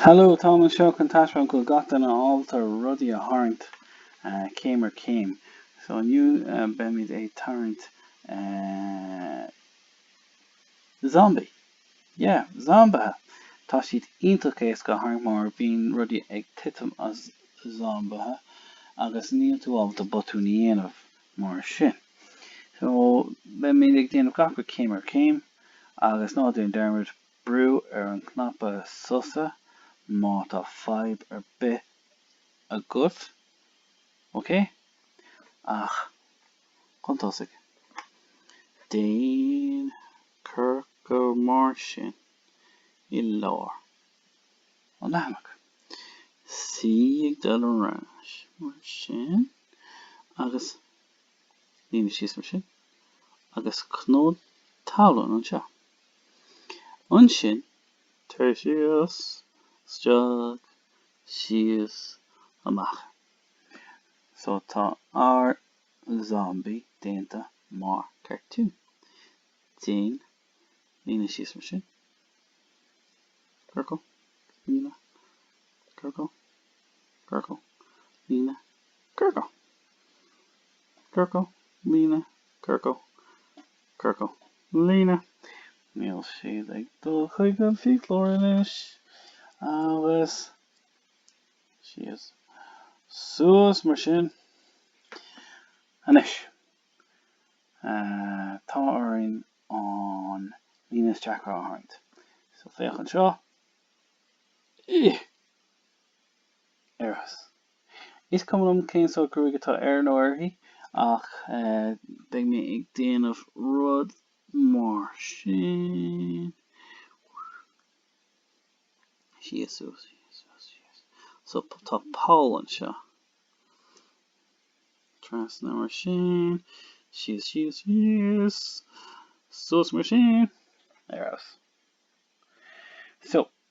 Hello, táim anseo chun taispeáint go bhfuil gach duine ábalta rudaí a tharraingt céim ar chéim. So inniu beimid ag tarraingt eh. zombaí. Yeah, zombaithe! Tá siad iontach éasca a tharraingt mar bíonn rudaí ag titim as zombaithe agus níl tú ábalta botúin a dhéanamh mar sin. So beimid ag déanamh gach rud céim ar chéim agus ná déan dearmad, Brú ar an cnaipe sosa má tá fadhb ar bith agat. OK? Ach chun tosaigh, déan ciorcal mar sin i lár an leathanaigh. C ag dul ar ais mar sin agus líne síos mar sin agus cnó talún anseo. Ansin, tar síos, isteach, síos, amach. So tá ár zombie déanta mar cartoon. Déan líne síos mar sin. Ciorcal, líne, ciorcal, ciorcal, líne, ciorcal. Ciorcal, líne, ciorcal, Ciorcal Líne. Níl siad ag dul chuig an fiaclóir anois agus síos suas mar sin. Anois, tá orainn an líne is deacra a tharraingt. So, féach anseo. Ih! Arís, is cuma liom cén sórt gruaig atá air nó uirthi ach beidh mé ag déanamh rud mar sin. Síos, suas, síos, suas, síos. So tá poll anseo. Trasna mar sin. Síos, síos, síos. Suas mar sin. Arís. So,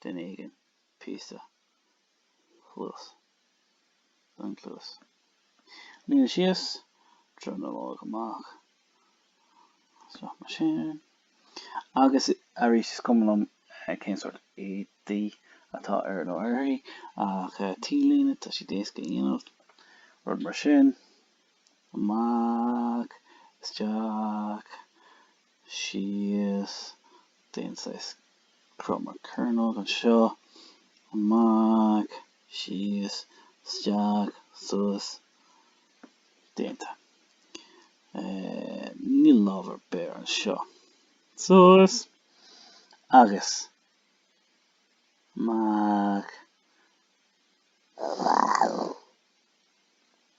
duine éigin, píosa, cluas, den chluas, líne síos, dronuilleog amach, isteach mar sin, agus arís. Is cuma liom cén sórt éadaí atá air nó uirthi, ach T-léine, tá siad éasca a dhéanamh, rud mar sin, amach, isteach, síos d'aon saghas cruth mar cearnóg anseo, amach, síos, isteach, suas, déanta. Níl lámh ar bith anseo. Suas agus amach.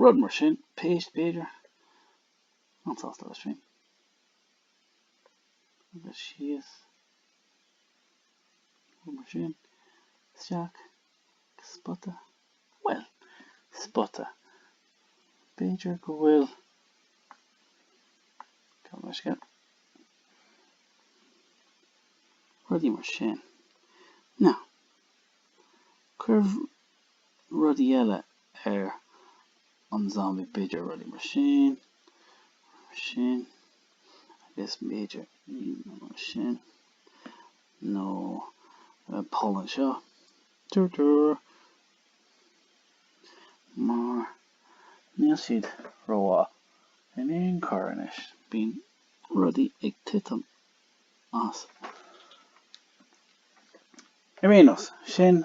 rud mar sin, péist b'fhéidir, an-sásta leis féin, agus síos, rud mar sin, isteach, agus spota, bhuel, spota, b'fhéidir go bhfuil rudaí mar sin, nó cuir rudaí eile ar an zombie b'fhéidir rudaí mar sin mar sin agus b'fhéidir iad mar sin nó poll anseo dur dur mar níl siad rómhaith in aon chor anois bíonn rudaí ag titim as ar aon nós sin